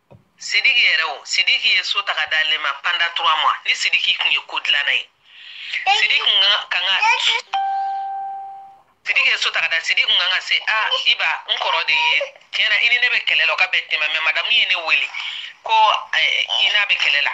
sidiki yɛrɛ o sidiki ye so ta ka d'ale ma pendant trois mois ni sidiki tun ye ko dilanna ye sidiki kun ka kan ka sidiki ye so ta ka d'a sidiki kun kan ka se a iba n kɔrɔ de ye tiɲɛ na i ni ne bɛ kɛlɛ la o ka bɛn tɛmɛ mais madamu ye ne wele ko i n'a bɛ kɛlɛ la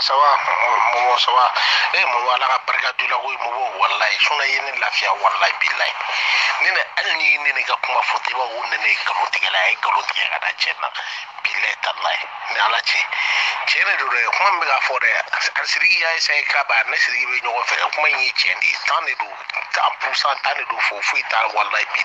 ça va mɔmɔ ça va e mɔmɔ ala ka barika d'i la koyi mɔmɔ walayi sinɔn i ye ne lafiya walayi bilayi ne ne hali n'i ye ne ne ka kuma fɔ i b'a fɔ ko ne ne ye nkalon tigɛla ye a ye nkalon tigɛ ka da cɛ na bilayi talayi ni ala cɛ tiɲɛ de don dɛ kuma min bɛ ka fɔ dɛ a siriki y'a essaye k'iba ni siriki bɛ ɲɔgɔn fɛ kuma in ye tiɲɛ de ye tan de don cent pourcent tan de don fo foyi t'a walayi bi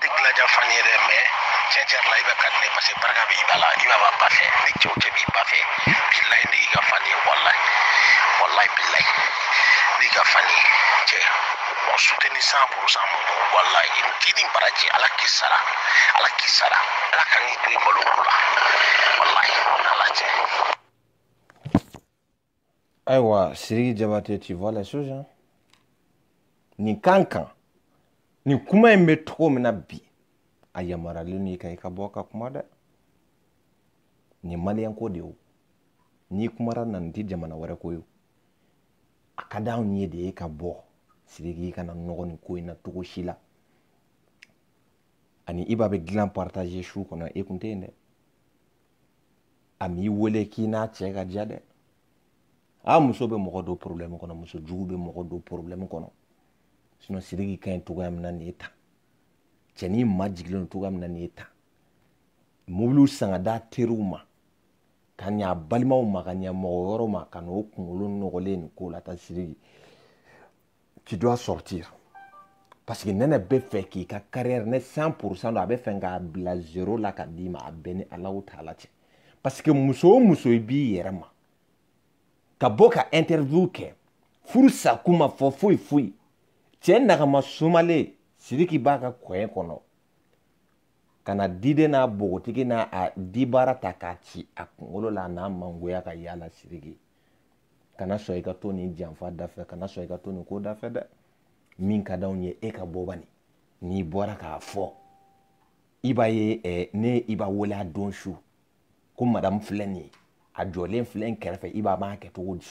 tɛ gladia fan ye dɛ mais tiɲɛ tiɲɛ la iba ka di ne parce que barika bɛ iba la iba b'a ba fɛ ni cɛ o cɛ b'i ba fɛ bilayi ne y'i ka fan ye walayi walayi bilayi ne y'i ka fan ye cɛ mɔgɔ soutenir cent pourcent mɔmɔ walayi i k'i ni baraji ala k'i sara ala k'i sara ala kan'i to i malo ko la walayi ala cɛ ayiwa siriki jabate tu vois la chose hein? nin kan kan nin kuma in bɛ cogo min na bi a yamaruyalen n'i ka i ka bɔ ka kuma dɛ nin maliyɛnko de ye o n'i kumara na nin tɛ jamana wɛrɛ ko ye a ka d'anw ye de e ka bɔ siriki kana nɔgɔ nin ko in na cogo si la ani iba bɛ dilan partage su kɔnɔ e kun tɛ yen dɛ a m'i wele k'i n'a cɛ ka diya dɛ a muso bɛ mɔgɔ don problème kɔnɔ muso jugu bɛ mɔgɔ don problème kɔnɔ sinon sidiki ka ɲi cogoya min na nin ye tan cɛnin majigilen don cogoya min na nin ye tan mobiliw san ka d'a teriw ma ka ɲa a balimaw ma ka ɲa mɔgɔ wɛrɛw ma ka n'o kunkolo nɔgɔlen nin ko la ta sidiki tu dois sortir parce que nɛnɛ bɛ fɛ k'i ka carrière ne 100 pourcent don a bɛ fɛ k'a bila zéro la ka d'i ma a bɛɛ ni ala taala cɛ parce que muso o muso i b'i yɛrɛ ma ka bɔ ka interview kɛ furu sa kuma fɔ foyi foyi cɛ nagama sumalen sidiki b'a ka kɔɲɛ kɔnɔ ka na diden n'a bogotigi n'a a dibara ta k'a ci a kunkolo la a n'a mangoya ka yaala sidiki kana sɔn i ka to nin janfa dafɛ kana sɔn i ka to nin ko dafɛ dɛ min ka d'anw ye e ka bɔ bani n'i bɔra k'a fɔ i ba ye eh, ne i ba wele a don su ko madamu filɛ nin ye a jɔlen filɛ n kɛrɛfɛ i ba b'a kɛ cogo di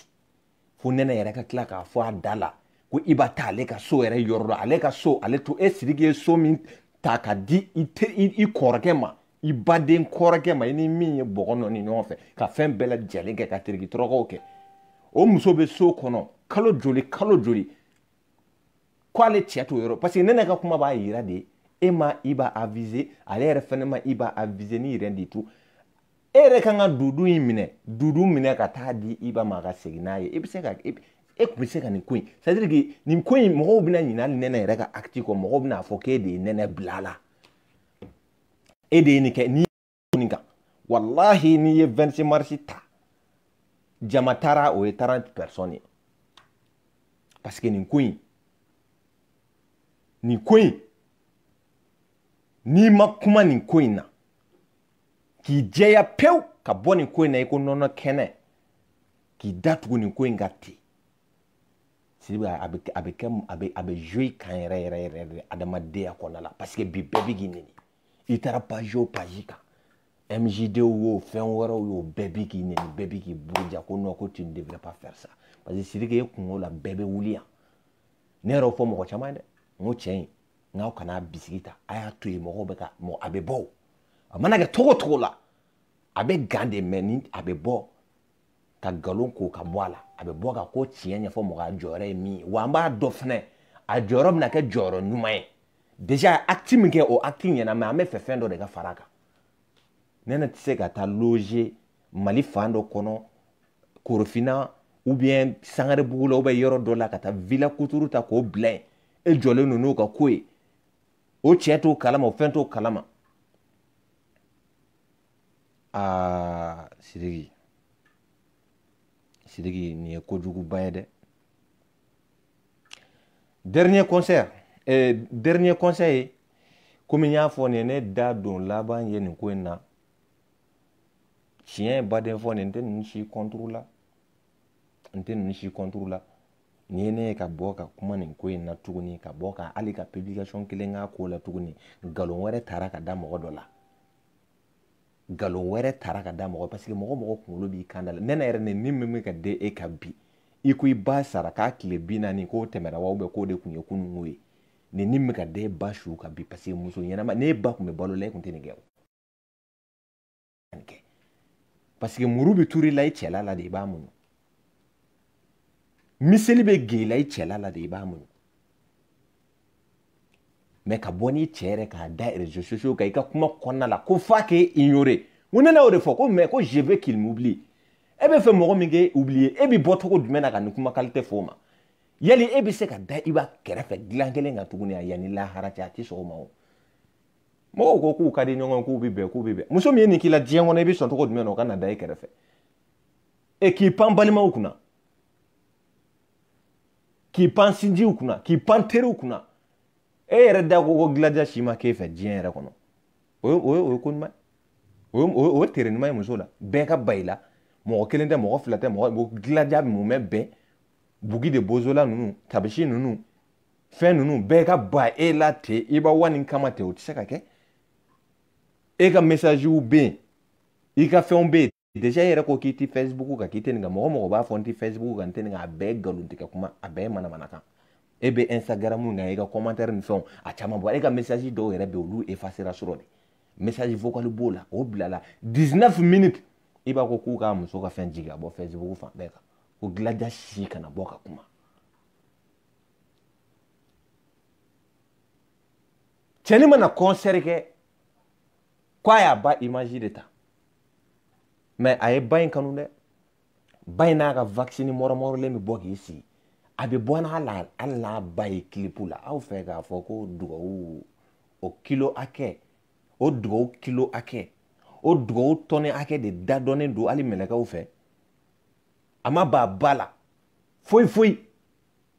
fo nɛnɛ yɛrɛ ka tila k'a fɔ a da la ko i ba taa ale ka so yɛrɛ yɔrɔ la ale ka so ale to e sidiki ye so min ta ka di i, te, i, i kɔrɔkɛ ma i baden kɔrɔkɛ ma i ni min ye bɔgɔ nɔɔni ɲɔgɔn fɛ ka fɛn bɛɛ lajɛlen kɛ ka teriki tɔrɔkɔw kɛ o muso bɛ so kɔnɔ kalo joli kalo joli k'ale cɛ t'o yɔrɔ parce que ne ne ka kuma b'a yira de e ma i ba aviser ale yɛrɛ fɛnɛ ma i ba aviser n'i yɛrɛ de tun e yɛrɛ kan ka dudu in minɛ dudu minɛ ka taa di i ba ma ka segin n'a ye i bɛ se ka e tun bɛ se ka nin ko in c'est à dire que nin ko in mɔgɔw bɛna ɲinɛ hali nɛnɛ yɛrɛ ka acte kɔ mɔgɔw bɛna fɔ k'e de ye nɛnɛ bila a la e de ye nin kɛ n'i nin kan walahi n'i ye 26 marisi ta jama taara o ye 30 personnes ye parce que nin ko in nin ko in n'i ma kuma nin ko in na k'i jɛya pewu ka bɔ nin ko in na i ko nɔnɔ kɛnɛ k'i datugu nin ko in kan ten sidiki a bɛ a bɛ kɛ a bɛ a bɛ jouer kan yɛrɛ yɛrɛ yɛrɛ de adamadenya kɔnɔna la parce que bi bɛɛ bɛ k'i nɛni i taara page o page kan MJD yo fɛn wɛrɛw yo bɛɛ bɛ k'i nɛni bɛɛ bɛ k'i buruja ko non ko tu ne devrais pas faire ça parce que sidiki e kunko la bɛɛ bɛ wuli yan ne yɛrɛ fɔ mɔgɔ caman dɛ n ko tiɲɛ na aw kana bisigi ta a y'a to yen mɔgɔw bɛ ka mɔgɔ a bɛ bɔ o a mana kɛ cogo cogo la a bɛ gan de mais a bɛ bɔ ka nkalon ko ka bɔ a la a bɛ bɔ ka ko tiɲɛ ɲɛfɔ mɔgɔ a jɔyɔrɔ ye min ye wa an b'a dɔn fɛnɛ a jɔyɔrɔ bɛna kɛ jɔyɔrɔ ɲuman ye déjà a acte min kɛ o acte ɲɛna mais an b'a fɛ fɛn dɔ de ka fara a kan ne ne tɛ se ka taa loger mali fan dɔ kɔnɔ korofina ou bien sangarebugu la ou bien yɔrɔ dɔ la ka taa villa kuturu ta k'o bila yen e jɔlen don n'o ka ko ye o cɛ t'o kalama o fɛn t'o kalama aa sidiki sidiki nin ye kojuguba ye dɛ dernier conseil eh, dernier conseil ye komi n y'a fɔ nin ye ne da don laban ye nin ko in na tiɲɛba de fɔ nin n tɛ ninnu si contre la n tɛ ninnu si contre la n'i ye ne ye ka bɔ ka kuma nin ko in na tuguni ka bɔ ka hali ka publication kelen k'a ko la tuguni nkalon wɛrɛ tara ka da mɔgɔ dɔ la nkalon wɛrɛ tara ka da mɔgɔ parce que mɔgɔ mɔgɔ kunkolo b'i kan da la nɛni yɛrɛ nin min bɛ ka den e kan bi i ko i ba sara k'a tile binaani k'o tɛmɛna wa ou bien k'o de tun ye kununko ye nɛni min bɛ ka den e ba su kan bi parce que muso ɲɛnama n'e ba tun bɛ balo la e tun tɛ nin kɛ o kɛ parce que muru bɛ turu i la i cɛla la de i b'a muɲu miseli bɛ gengen i la i cɛla la de i b'a muɲu mais ka bɔ n'i cɛ yɛrɛ k'a da réseaux sociaux kan i ka kuma kɔnɔna la ko f'a k'e ignorer ko ne n'o de fɔ ko mais ko je veux qu'il m'oublie e bɛ fɛ mɔgɔ min k'e oublier e bɛ bɔ cogo jumɛn na ka nin kuma qualité fɔ o ma yali e bɛ se ka da Iba kɛrɛfɛ dilan kelen kan tuguni a yan ni lahara cɛ a tɛ sɔn o ma o mɔgɔw ko k'u ka di ɲɔgɔn k'u bɛ bɛn k'u bɛ bɛn muso min ye nin k'i la diɲɛ kɔnɔ i bɛ sɔn cogo jumɛn na o ka na da e kɛrɛfɛ e k'i pan balimaw kunna k'i pan sinjiw kunna k'i pan teriw kunna e yɛrɛ da ko ko Gladia si ma k'e fɛ diɲɛ yɛrɛ kɔnɔ o ye o ye o ye ko ɲuman ye o ye o ye tere ɲuman ye muso la bɛɛ ka ban i la mɔgɔ kelen tɛ mɔgɔ fila tɛ mɔgɔ Gladia bɛɛ mun mɛ bɛn bugi de bozola ninnu tabisi ninnu fɛn ninnu bɛɛ ka ban e la ten Iba One kama ten o tɛ se ka kɛ e ka mesaziw bɛ yen i ka fɛnw bɛ yen déjà e yɛrɛ ko k'i ti facebook kan k'i tɛ nin kan mɔgɔ mɔgɔ b'a fɔ n ti facebook kan n tɛ nin kan a bɛɛ galontigɛ kuma a bɛɛ manamana kan e bɛ instagram na i ka commentaire ni fɛnw a caman bɔ e ka message dɔw yɛrɛ bɛ olu effacera sɔrɔ de message vocal b'o la o bilala 19 minutes Iba ko k'u k'a muso ka fɛn jigin ka bɔ facebook fan bɛɛ kan ko Gladia si kana bɔ ka kuma cɛni mana concert kɛ ko a y'a ba image de ta mais a ye ba in kanu dɛ ba in n'a ka wakisinin mɔrɔmɔrɔlen bɛ bɔ k'i sigi a bɛ bɔ n'a la hali n'a ba ye kilipu la aw fɛ k'a fɔ ko dugawu o kilo hakɛ o dugawu kilo hakɛ o dugawu tɔni hakɛ de da dɔnnen don hali mɛlɛkɛw fɛ a m'a ba bila foyi foyi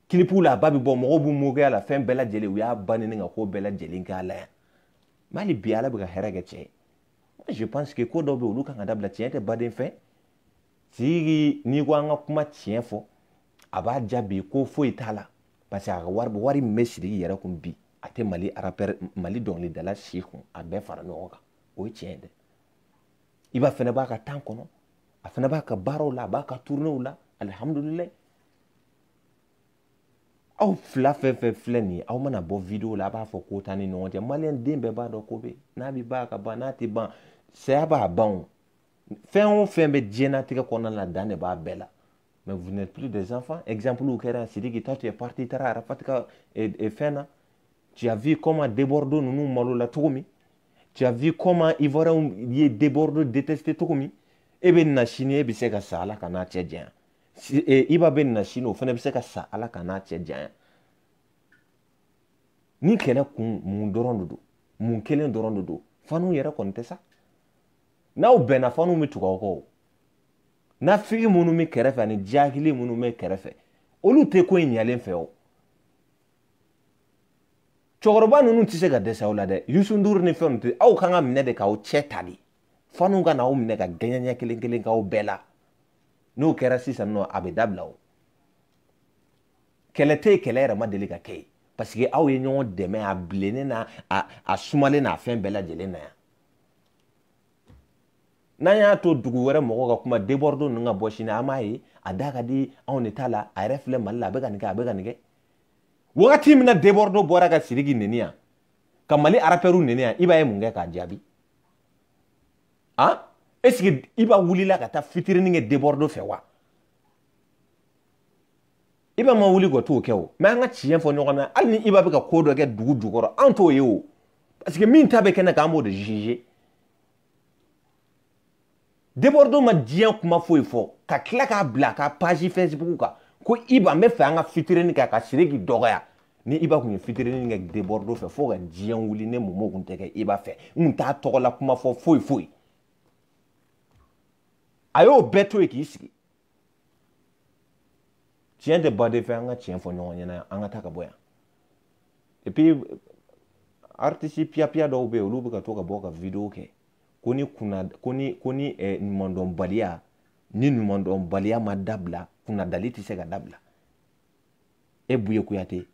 kilipu la a ba bɛ bɔ mɔgɔw b'u mɔgɔya la fɛn bɛɛ lajɛlen u y'a ba nin ka ko bɛɛ lajɛlen k'a la yan mais hali bi ala bɛ ka hɛrɛ kɛ cɛ ye je pense que ko dɔw bɛ olu ka kan ka dabila tiɲɛ tɛ baden fɛ tigi n'i ko an ka kuma tiɲɛ fɔ a b'a jaabi ko foyi t'a la parce que a ka wari wari min bɛ sidiki yɛrɛ kun bi a tɛ mali rappeur mali dɔnkilidala si kun a bɛɛ fara ɲɔgɔn kan o ye tiɲɛ ye dɛ Iba fana b'a ka temps kɔnɔ a fana b'a ka baaraw la a b'a ka tournéew la alihamudulilayi aw fila fɛn fɛn filɛ nin ye aw mana bɔ video la a b'a fɔ ko t'an ni ɲɔgɔn cɛ maliyɛn den bɛɛ b'a dɔn ko bɛ n'a bɛ ban a ka ban n'a tɛ ban saya b'a ban o fɛn o fɛn bɛ diɲɛnatigɛ kɔnɔna na dan de b'a bɛɛ la mais vous n'êtes plus des enfants exemple kɛra sidiki toi tu es parti taara arafati ka eh, eh, fɛn na tu as vu comment debɔrdo ninnu malola cogo min tu as vu comment ivoiriyɛnw ye debɔrdo détesté cogo min e bɛ na sini e bɛ se ka sa ala k'an n'a cɛ janya e, iba bɛ na sini o fana bɛ se ka sa ala k'an n'a cɛ janya ni kɛlɛ kun mun dɔrɔn de don mun kelen dɔrɔn de don fanw yɛrɛ kɔni tɛ sa n'aw bɛnna fanw bɛ tugu aw kɔ o nafigi minnu bɛ kɛrɛfɛ ani jahili minnu bɛ kɛrɛfɛ olu tɛ ko in ɲalen fɛ o cɛkɔrɔba ninnu tɛ se ka dɛsɛ aw la dɛ yusu ndur ni fɛnw tɛ aw kan ka minɛ de k'aw cɛ ta de fanw ka na aw minɛ ka gɛɲɛ ɲɛ kelen kelen k'aw bɛɛ la n'o kɛra sisan nɔ a bɛ dabila o kɛlɛ tɛ yen kɛlɛ yɛrɛ ma deli ka kɛ yen parce que aw ye ɲɔgɔn dɛmɛ a bilennen na a sumalen na fɛn bɛɛ lajɛlen na yan n'an y'a to dugu wɛrɛ mɔgɔw ka kuma debɔrdo ninnu ka bɔ sini an b'a ye a da ka di anw de ta la a yɛrɛ filɛ mali la a bɛ ka nin kɛ a bɛ ka nin kɛ wagati min na debɔrdo bɔra ka siriki neni yan ka mali arapɛriw neni yan iba ye mun kɛ k'a jaabi han est ce que iba wulila ka taa fitirini kɛ debɔrdo fɛ wa iba ma wuli ka t'o kɛ o mais an ka tiɲɛ fɔ ɲɔgɔn na hali ni iba bɛ ka ko dɔ kɛ dugu jukɔrɔ an t'o ye o parce que min ta bɛ kɛnɛ kan an b'o de jugé debɔrdo ma diɲɛ kuma foyi fɔ ka tila k'a bila a ka page facebook kan ko iba n b'a fɛ an ka fitirini kɛ a ka siriki dɔgɔya ni iba kun ye fitirini kɛ debɔrdo fɛ fo ka diɲɛ wuli ne mɔmɔ kun tɛ kɛ iba fɛ n kun t'a tɔgɔ la kuma fɔ foyi foyi a y'o bɛɛ to yen k'i sigi tiɲɛ tɛ baden fɛ an ka tiɲɛ fɔ ɲɔgɔn ɲɛna an ka taa ka bɔ yan et puis artisi piyapiya dɔw bɛ yen olu bɛ ka to ka bɔ ka video kɛ ko ni kunna ko ni ko ni eh, ɲumandɔnbaliya ni ɲumandɔnbaliya ma dabila kunnadali tɛ se ka dabila e buye kuyate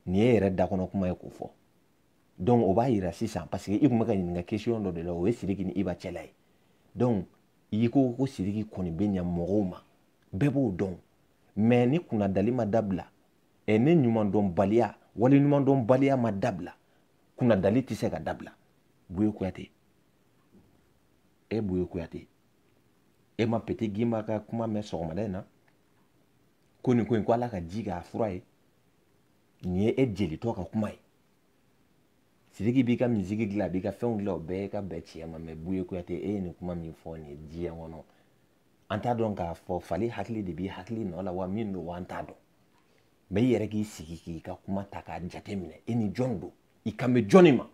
nin y'e yɛrɛ dakɔnɔ kuma ye k'o fɔ donc o b'a yira sisan parce que i tun bɛ ka ɲininka question dɔ de la o ye sidiki ni iba cɛla ye donc i ko ko sidiki kɔni bɛ ɲa mɔgɔw ma bɛɛ b'o dɔn mais ni kunnadali ma dabila ɛ ni ɲumandɔnbaliya waleɲumandɔnbaliya ma dabila kunnadali tɛ se ka dabila buye kuyate e buye kuyate e ma peti gimba ka kuma mɛn sɔgɔmada in na ko nin ko in ko ala ka ji k'a fura ye nin ye e jelitɔ ka kuma ye sidiki b'i ka misiki dilan a b'i ka fɛnw dilan o bɛɛ ye ka bɛn tiɲɛ ma mɛ buye kuyate e ye nin kuma min fɔ nin ye diɲɛ kɔnɔ an t'a dɔn k'a fɔ fali hakili de b'i hakili nɔ la wa min don wa an t'a dɔn mɛ i yɛrɛ k'i sigi k'i ka kuma ta k'a jate minɛ e ni jɔn don i kan bɛ jɔnni ma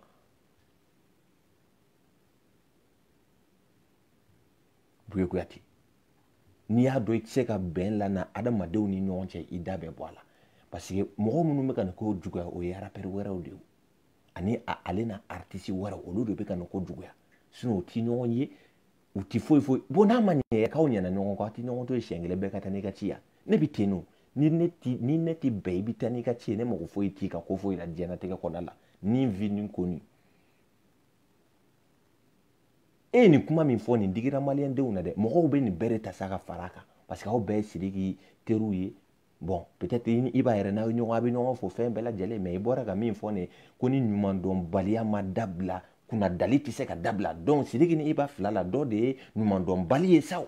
buye kuyate n'i y'a dɔn i tɛ se ka bɛn lana adamadenw ni ɲɔgɔn cɛ i da bɛ bɔ a la parce que mɔgɔ minnu bɛ ka nin ko juguya o ye arapɛri wɛrɛw de ye ani ale na aritisi wɛrɛw olu de bɛ ka nin ko juguya sinɔn u tɛ ɲɔgɔn ye u tɛ foyi foyi bon n'a ma ɲɛ k'aw ɲɛna ɲɔgɔn kɔ a tɛ ɲɔgɔn to yen siɲɛ kelen bɛɛ ka taa n'i ka ci ye ne bɛ ten o ni ne ti ni ne ti bɛn i bɛ taa n'i ka ci ye ne mago foyi t'i ka ko foyi la diɲɛnatigɛ kɔnɔna la ni n vi ni ko ni e ye nin kuma min fɔ nin digira maliyɛndenw na dɛ mɔgɔw bɛ nin bɛɛ de ta sa ka fara a kan parce que aw bɛɛ ye sidiki teriw ye bɔn peut-être iba yɛrɛ n'aw ɲɔgɔn a bɛ ɲɔgɔn fo fɛn bɛɛ lajɛlen mɛ i bɔra ka min fɔ nin ko ni ɲumandɔnbaliya ma dabila kunnadali tɛ se ka dabila donc sidiki ni iba fila la dɔ de ye ɲumandɔnbali ye sa o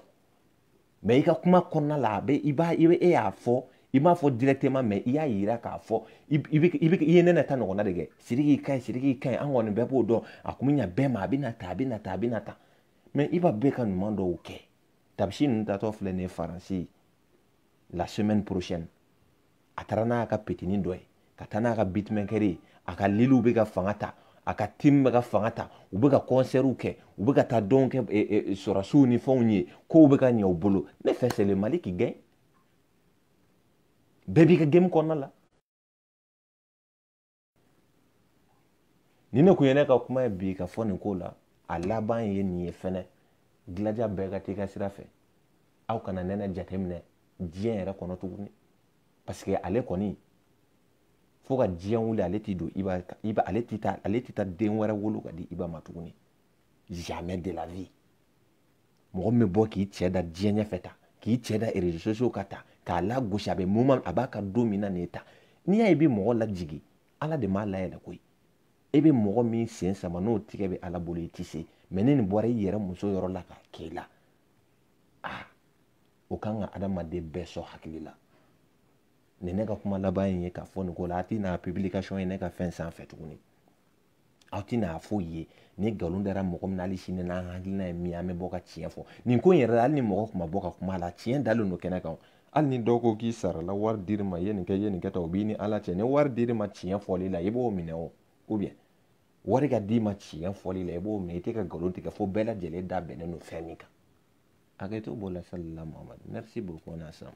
mɛ i ka kuma kɔnɔna la a bɛ i b'a i bɛ e y'a fɔ i m'a fɔ directement mɛ i y'a yira k'a fɔ i bɛ i bɛ i ye nɛnɛ ta ɲɔgɔnna de kɛ siriki ka ɲi siriki ka ɲi an kɔni bɛɛ b'o dɔn a kun bɛ ɲa bɛɛ ma a bɛ na ta a bɛ na ta a bɛ na ta mɛ iba bɛ ka ɲuman dɔw kɛ tabisi ninnu taatɔ filɛ nin ye faransi la semaine prochaine a taara n'a ka pitini dɔ ye ka taa n'a ka bitmɛkɛri ye a ka liliw bɛ ka fanga ta a ka tim bɛ ka fanga ta u bɛ ka kɔnsɛriw kɛ u bɛ ka taa dɔn kɛ e, e, sɔrɔsiw ni fɛnw ye kow bɛ ka ɲɛ u bolo ne fɛ c'est le mali qui gagne bɛɛ b'i ka gemu kɔnɔna la ni ne kun ye ne ka kuma ye bi ka fɔ nin ko la a laban ye nin ye fɛnɛ gilaja bɛɛ ka t'i ka sira fɛ aw kana nɛnɛ jateminɛ diɲɛ yɛrɛ kɔnɔ tuguni parce que ale kɔni fo ka diɲɛ wuli ale t'i don iba iba ale ti taa ale ti taa den wɛrɛ wolo ka di iba ma tuguni jamais de la vie mɔgɔ min bɛ bɔ k'i cɛ da diɲɛ ɲɛfɛ ta k'i cɛ da réseaux sociaux ka ta k'a lagosi a bɛ moment a b'a ka don min na nin ye ta n'i y'a ye i bɛ mɔgɔ lajigin ala de m'a layɛlɛ koyi e bɛ mɔgɔ min sen sama n'o tigi bɛ ala bolo i tɛ se mɛ ni nin bɔra i yɛrɛ muso yɔrɔ la ka k'i la aa o ka kan ka adamaden bɛɛ sɔn hakili la nin ne ka kuma laban in ye k'a fɔ nin ko la a tɛ na publication ye ne ka fɛn sanfɛ tuguni aw tɛna a foyi ye ni nkalon dara mɔgɔ min na hali sini n'an hakilina ye min an bɛ bɔ ka tiɲɛ fɔ nin ko in yɛrɛ la hali ni mɔgɔ tun ma bɔ ka kuma a la tiɲɛ dalen don kɛnɛ kan hali ni dɔw ko k'i sarala wari dir'i ma i ye nin kɛ i ye nin kɛ ta o b'i ni ala cɛ ni wari dir'i ma tiɲɛ fɔli la i b'o minɛ o ou bien wari ka d'i ma tiɲɛ fɔli la i b'o minɛ i tɛ ka nkalon tigɛ fo bɛɛ lajɛlen da bɛnnen don fɛn min kan hakɛto b'o la salila muhamadu merci beaucoup n'a sɔrɔ